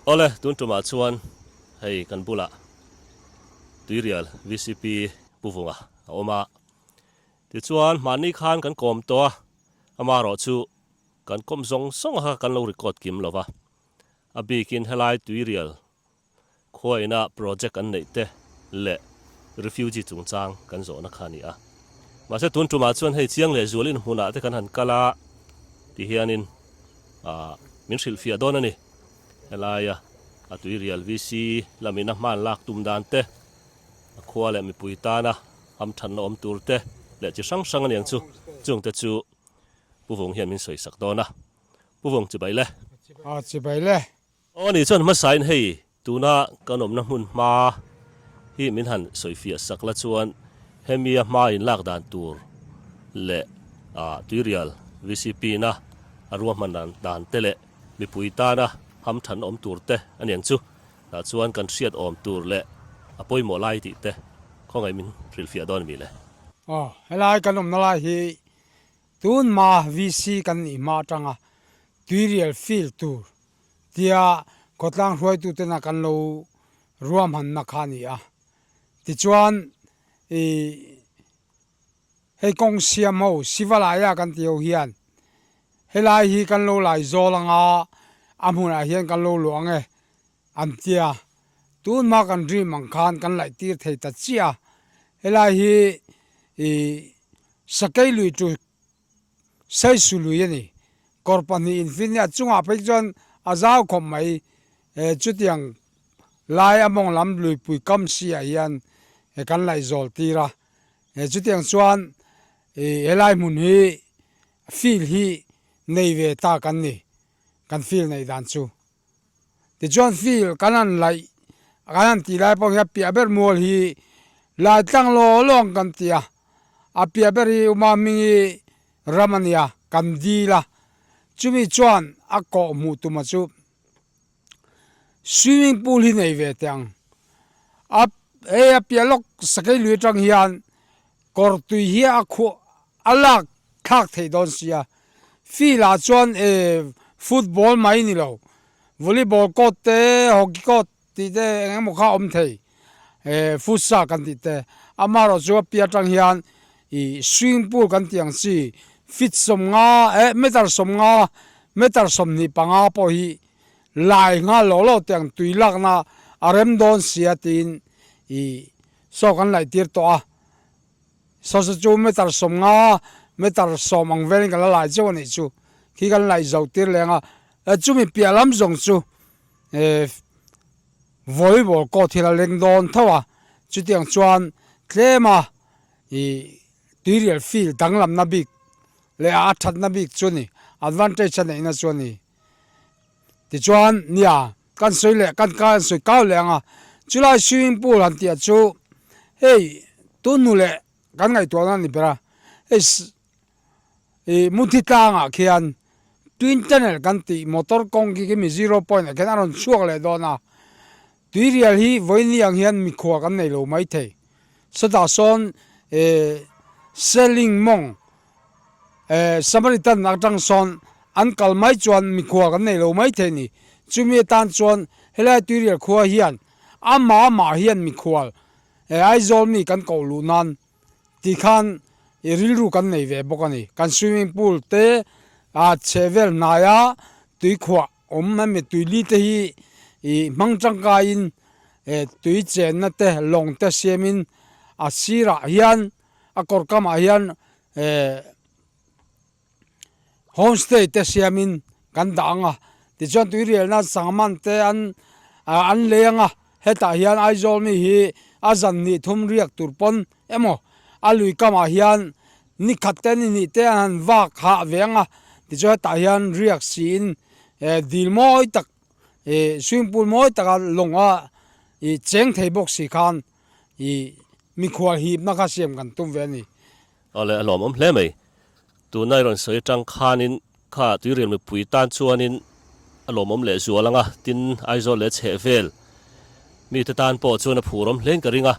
Awle, tun tumah chuan hei kan bulah Tuirial VCP pu vunga a awm a, tichuan mahni khan kan kawm tawh a, ama rawh chu kan kawm zawng zawng a kha kan lo record kim lova, a bikin helai Tuirial Khua inah project an neih te leh refugee chungchang kan zawhna kha a ni a. Mahse tun tumah chuan hei chiang leh zual inhmunah te kan han kal a ti hianin min hrilhfiah dawn a ni. Helaia a tuirial VC lamin a hman lak tum dan te, a khua leh mipui tana hamthanna awm tur te leh chi hrang hrang a ni ang chu, chung te chu Pu Vung hian min sawisak dawn a. Pu Vung, Chibai le. Aw, Chibai le. Aw ni chuan hmasain hei tuna kan awmna hmun hma hi min han sawifiah sak la chuan hemi a hma in lak dan tur leh Tuirial VCP na a rua hman dan te leh mipui tana ham than awm tur te a niang chu tah chuan kan hriat awm tur leh a pawimawh lai tih te khawngaih min hrilhfiah dawn a mi le. Aw helai kan awmna lai hi Tun hma VC kan nih hma atanga tuirial fil tur tia khawtlang hruaitutena kan lo ruahmanna kha a ni a. Tichuan i hei kawng siam ho, Sivalaya kan ti ho hian helai hi kan lo laizawl anga a hmunah hian kan lo luang e an tia. Tunhma kan dream ang khan kan laih tir thei ta chiah a, helai hi i sakei lui tu saisu lui a ni. Kawr pahnih infinna a chungah phei chuan a zau khawp mai, eh chutiang lai a mawng lam luipui kam siah hian kan laih zawl tir a, eh chutiang chuan i helai hmun hi feel hi nei ve ta kan ni, kan feel nei dan chu. Tichuan feel kan han laih kan han tih lai pawh hian piah ber mual hi lai tlang law law ang kan ti a, a piah ber hi uma hmingi ram a nia kan dil a, chumi chuan a kawh hmuh tuma chu swimming pool hi nei ve teh ang a hei a piah lawk sakei lui atang hian Kawr tui hi a khuh a lak thlak thei dawn sia. Field ah chuan e football mai ni lo, volleyball court te, hockey court tih te eng eng maw kha awm thei. E futsal kan tih te. Amaherawh chu a piah atang hian i swimming pool kan tih ang chi, feet sawmnga e meter sawmnga, meter sawmhnih panga pawh hi lai nghal lo lo teh ang tui lakna a rem dawn sia tiin i Sawk an laih tir tawh a, Sasa chu meter sawm nga, meter sawm ang velin ka la laih chauh a nih chu, khi kan laih zo tir leh ang a, chumi piah lam zawng chu eh volleyball court hi la leng dawn tho a, chutiang chuan tlema ih tuirial field danglamna bik leh a thatna bik chu a ni, advantage a neihna chu a ni. Tichuan, nia, kan sawi leh kan kan sawi kau leh ang a, chulai swimming pool han tih ah chu hei tunhnu leh kan ngaihtuah na a ni ber a, hei ih muthi tlang ah khian twin tunnel kan tih motor kawng khi khi mi zero point ah khian a rawn chhuak leh dawn a. Tuirial hi vawiini ang hian mikhua kan nei lo mai thei. Sawtah sawn e Selling mawng e Samaritan atang sawn an kal mai chuan mikhua kan nei lo mai thei ni. Chumi atan chuan helai tuirial khua hian amah mah hian mikhual e Aizawl mi kan koh luh nan ti khan e rilru kan nei ve bawk a ni. Kan swimming pool te a chhehvel hnaia tuikhuah awm hemi tuili te hi ih hmang tangkaiin eh tui chenna te lawng te siamin a sirah hian a kawr kamah hian eh home stay te siamin kan dah ang a tichuan tui rial nan sangha man te an ah an lei ang a. Hetah hian Aizawl mi hi a zan hnih thum riak tur pawn emaw, a lui kamah hian nikhat te ni hnih te an han vak hah ve ang a, tichuan hetah hian riak siin eh dil mawi tak ih swimming pool mawi taka lawng a ih cheng thei bawk si khan ih mikhua hipna kha siam kan tum ve a ni. Awle a hlawmawm hle mai. Tuna i rawn sawi atang khanin kha tuirial mipui tan chuanin a lawmawm leh zual anga, tin Aizawl leh chhehvel mite tan pawh chuan a phur awm hlein ka ring a.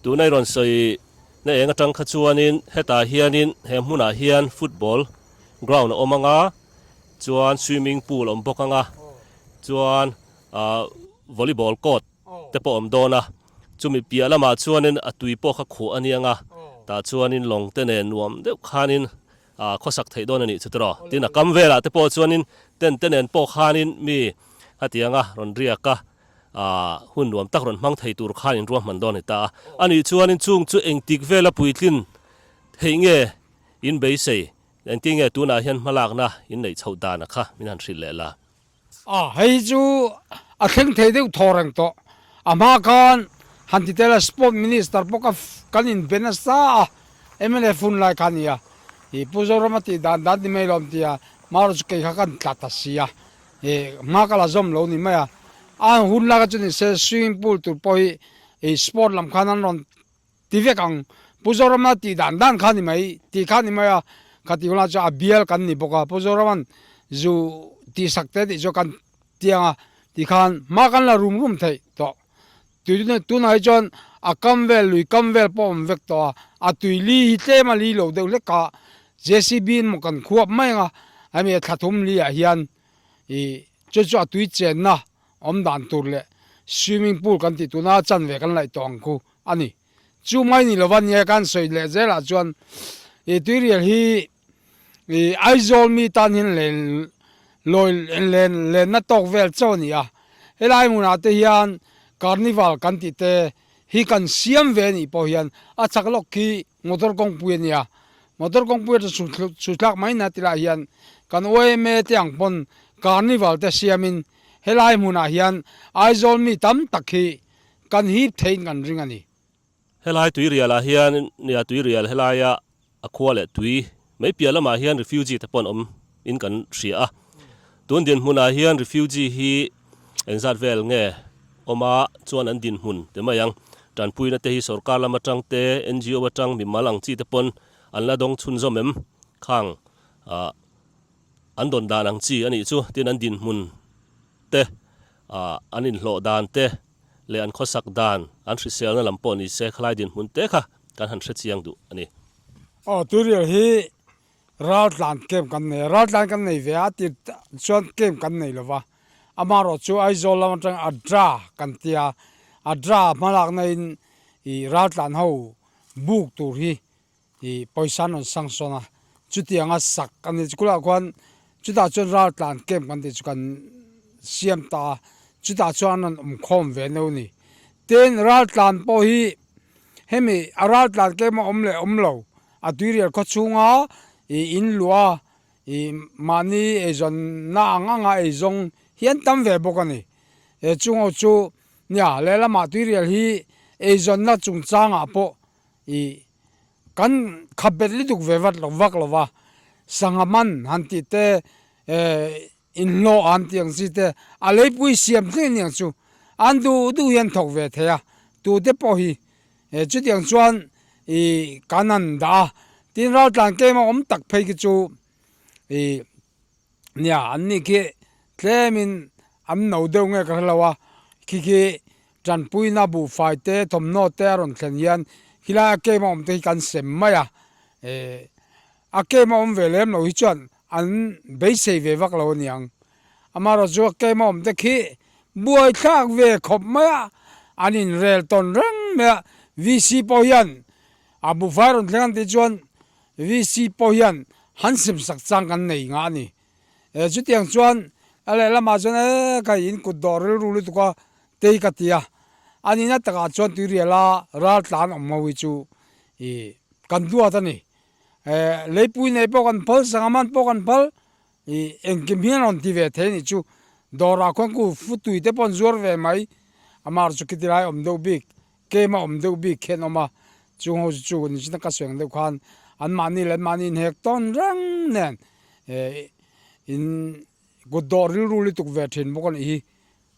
Tuna i rawn sawi na eng atang kha chuanin hetah hianin he hmunah hian football ground a awm anga, chuan swimming pool awm bawk anga, chuan volleyball court, te pawh awm dawn a, chumi piah lamah chuanin a tui pawh kha khuh a niang a, tah chuanin lawng te nen nuam deuh khanin aa khawsak theih dawn a nih chuti rawh tin a kam velah te pawh chuanin tent te nen pawh khanin mi hetianga rawn riak a aa hun nuam tak rawn hmang thei tur khanin ruahman dawn a ni ta a, a nih chuanin chung chu engtik vela puitlin theih nge in beisei engtinnge tunah hian hmalakna inneih chhoh dana kha min han hrilh leh la. A hei chu a thleng thei deuh thaw reng tawh. A hma khan han ti tel a Sport Minister pawh ka kan in be nasa a, mlf hun lai kha a ni a, ih Pu Zoram a tih dan dan ti mai lo an ti a, mara chu kei kha kan tla ta si a, ih hma ka la zawm lo ni mai a, a hun lai kha chu ni se swimming pool tur pawh hi ih Sport lam khan an rawn Ti vek ang, Pu Zoramna tih dan dan kha ni mai, tih kha ni mai a, ka ti hunah chuan a bial kan ni bawk a, Pu Zoraman zu tihsak te tih chu kan ti ang a, ti khan hma kan la rum rum theih tawh, tun tunah hi chuan a kam vel lui kam vel pawh a awm vek tawh a, a tui li hi tlem a li lo deuh hlek a, JCB in maw kan khuap mai ang a, hemi thlathum li ah hian ih chu chu a tui chenna, awm dan tur leh swimming pool kan tih tuna chan ve kan laih tawh ang ku a ni. Chu mai ni lova nia kan sawi leh zel ah chuan i tuirial hi i Aizawl mi tan hian len lawi len lenna tawk vel chauh a ni a, helai hmun ah te hian carnival kan tih te hi kan siam ve a nih pawh hian a chak lawk khi Motor kawngpui a nia, motor kawngpui ata chu chu thlak mai na ti lah hian kan yma te ang pawn Carnival te siam in helai hmun ah hian Aizawl mi tam tak hi kan hip thei in kan ring a ni. Helai Tuirial ah hian nia Tuirial helaia a khua leh tui Mei piah lamah hian refugee te pawh an awm in kan hria a, tun dinhmunah hian refugee hi engzat vel nge awma chuan an dinhmun pe mai ang. Tanpuina te hi sorkar lam atang te, NGO atang mimal ang chi te pawn an la dawng chhunzawm em, khang ah an dawn dan ang chi a nih chu, tin an dinhmun te ah an inhlawh dan te, leh an khawsak dan an hriselna lam pawh ni se khalai dinhmun te kha kan han hrechiang duh a ni. Aw turial hi ral tlan tlem kan nei a, ral tlan kan nei ve a, a tir chuan tlem kan nei lo va, amaherawh chu Aizawl lam atang Adra kan ti a, Adra hmalakna in ral tlan ho buk tur hi I pawisa an rawn sang sawn a, chutianga sak ka nih chu khulaiah khuan chutah chuan ral tlan camp kan tih chu kan siam ta a, chutah chuan an rawn awm khawm ve no ni. Tin, ral tlan pawh hi hemi a ral tlan camp a awm leh awm lo a tuirial khawchhunga i in luah a i mahni eizawnna ang anga ei zawng hi an tam ve bawk a ni. Chung ho chu nia lehlamah tuirial hi eizawnna chungchangah pawh i kan kha bet lutuk ve vat lo vak lo va, sangha man han tih te, inhlawh han tih ang chi te, a leipui siam thleng aniang chu an duh duh hi an thawk ve thei a, tute pawh hi chutiang chuan i kan han dah a, tin raltlan keng emaw awm tak phei khi chu i. Nia, an nih khi tlemin an no deuh nge ka hre lo a, khi khi tanpuina buhfai te thawmhnaw te a rawn thlen hian khilai a came a awm te hi kan sem mai a, eh a came a awm ve lem lo hi chuan an beisei ve vak lo a niang, amaherawh chu a came a awm te khi buaithlak ve khawp mai a, an inrel tawn reng mai a, VC pawh hian a buhfai a rawn thleng an tih chuan, VC pawh hian han simsak chang kan nei ngah a ni. E, chutiang chuan a lehlamah chuan e ka in kut dawh rilru lutuk a, tei ka ti a. A nihna takah chuan tuiriala ral tlan awm ho hi chu i kan duat a ni. E, leipui nei pawh kan phal, sangha man pawh kan phal, I engkim hian a rawn ti ve thei anih chu, dawrah khuan ku fu tui te pawh an zuar ve mai, a mar chu khiti lai awm deuh bik, kem a awm deuh bik khian awm a, chung ho chu chu ni chi na ka suih ang deuh khan an mahni leh an mahni in hek tawn reng nen in kut dawh rilru lutuk ve thin bawk anih hi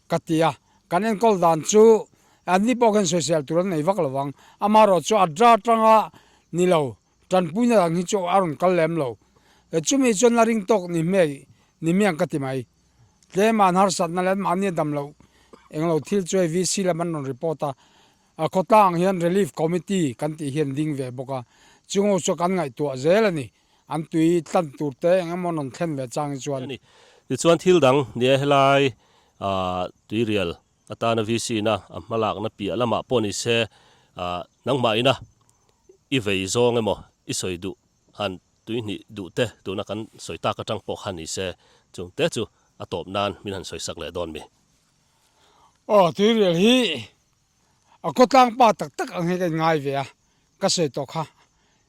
ka ti a, kan enkawl dan chu an ni pawh khan sawi sial tur an nei vak lo vang, amah erawh chu a draw tang a ni lo. Tanpuina dang hi chu a rawn kal lem lo. Chumi chuan a ring tawk ni hmel ni hmiang ka ti mai. Tlema harsatna leh an mahni a dam loh eng lo thil chu hei VC lam an rawn report a. A khawtlang ang hian Relief Committee kan tih hi an ding ve bawk a. Chungo chu kan ngaihtuah zel a ni. An tui tlan tur te eng emaw an rawn thlen ve chang hi chuan. Tichuan thil dang nia helai tui rial A tana VC ina a hma lakna piah lamah pawh ni se, nangmah ina i vei zawng emaw i sawi duh han tui hnih duh te tuna kan sawi tak atang pawh kha ni se, chungte chu a tawp nan min han sawisak leh dawn mi. Aw, tuirial hi a kawtlangpa tak tak ang hi ka inngai ve a, ka sawi tawh kha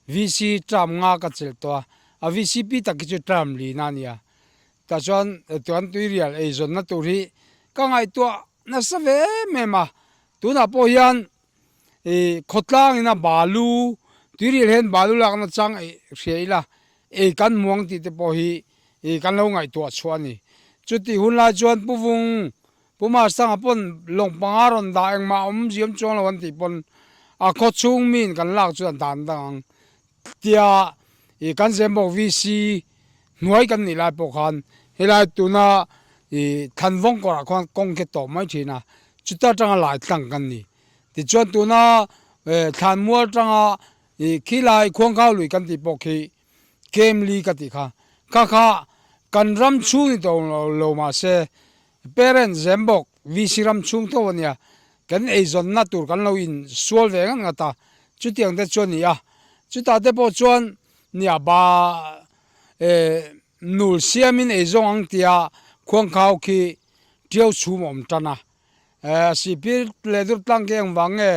VC term nga ka chelh tawh a, a vcp tak hi chu term lin a nia. Tah chuan tuan tuirial ei zawnna tur hi ka ngaihtuah nasa ve em em a, tunah pawh hian i khawtlangin a balu tuirial hian balu lakna chang ei hria ila ei kan hmu ang tih te pawh hi i kan lo ngaihtuah chhuah a ni. Chutih hunlai chuan Pu Vung Pu Mar Sanga pawn lawng panga rawn dah engmah awm ziam chuang lo an tih pawn a khaw chhung miin kan lak chu a dan dang ang tia ih kan Zembawk VC hnuai kan nih lai pawh khan helai tuna ih thlan vawng kawrah khan kawng khe tawh mai thin a chuta tanga lai tlang kan ni tichuan tuna eh thlan mual tanga ih khilai khuangkhau lui kan tih pawh khi kem li ka tih kha kha kha kan ram chhung ni tawh ang lo mahse parents zem bawk VC ram chhung tho a nia kan eizawnna tur kan lo in sual ve ngat ngat a chutiang te chu a ni a chutah te pawh chuan nia ba e nul siamin ei zawng ang tia khuangkhau khi ṭiau chhum a awm ṭan a. Sipir leh Durtlang ke eng vang nge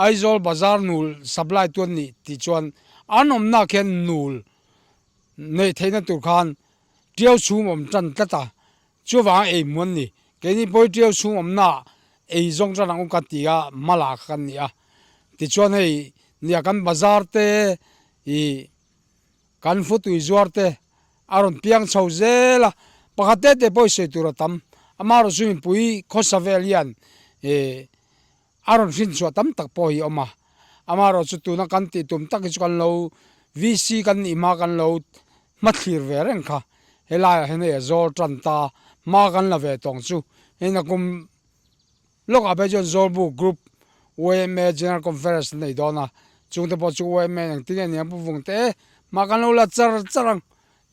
Aizawl bazar nul supply tu an nih tih chuan an awmnaah khian nul neih theihna tur khan ṭiau chhum awm ṭan tlat a, chuvanga ei hmu an ni. Keini pawi ṭiau chhum awmnaah ei zawng ṭan ang u ka tia hma la kha kan ni a. Tichuan hei nia kan bazar te ih. Kan hmutui zuarte a rawn piang chho zel a, pakhat te te pawh i sawi tur a tam. Amarawh chu mipui khawsa vel hian a rawn hrinchhuah tam tak pawh hi a awm a. Amarawh chu tuna kan tih tum tak hi chu kan lo VC kan nih hma kan lo hmathlir ve reng kha. Helaiah hian hei a zawl tan ta, hma kan la ve tawng chu hei na kum Lawkah pawh chuan Zawlbuk Group yma General Conference an nei dawn a, chungte pawh chu yma ang tinge nia pawvawng te e, mah kan lo la char char ang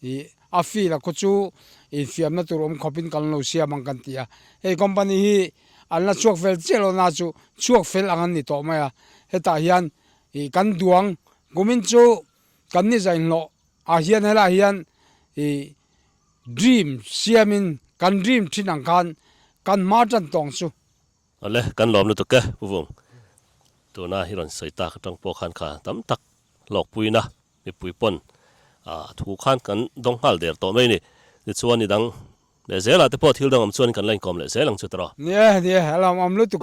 ih a fee la khaw chu infiamna tur awm khawpin kan lo siam ang kan ti a, hei company hi an la chhuak fel chiah loh na chu chhuak fel ang an ni tawh mai a, hetah hian ih kan duang kumin chu kan ni zainhlawh ah hian helaiah hian ih. Dream siam in kan dream thin ang khan kan hma tan tawng chu. Awle kan lawm lutuk e Pu Vung. Tuna hi rawn sawi tak atang pawh khan kha tam tak hlawk puin a, mipui pawn a thu khan kan dawng nghal der tawh mai a ni. Tichuan ni dang leh zel ah te pawh thil dang awm chuan kan la inkawm leh zel ang chu tara. Ni e, ni e, a lawm awm lutuk.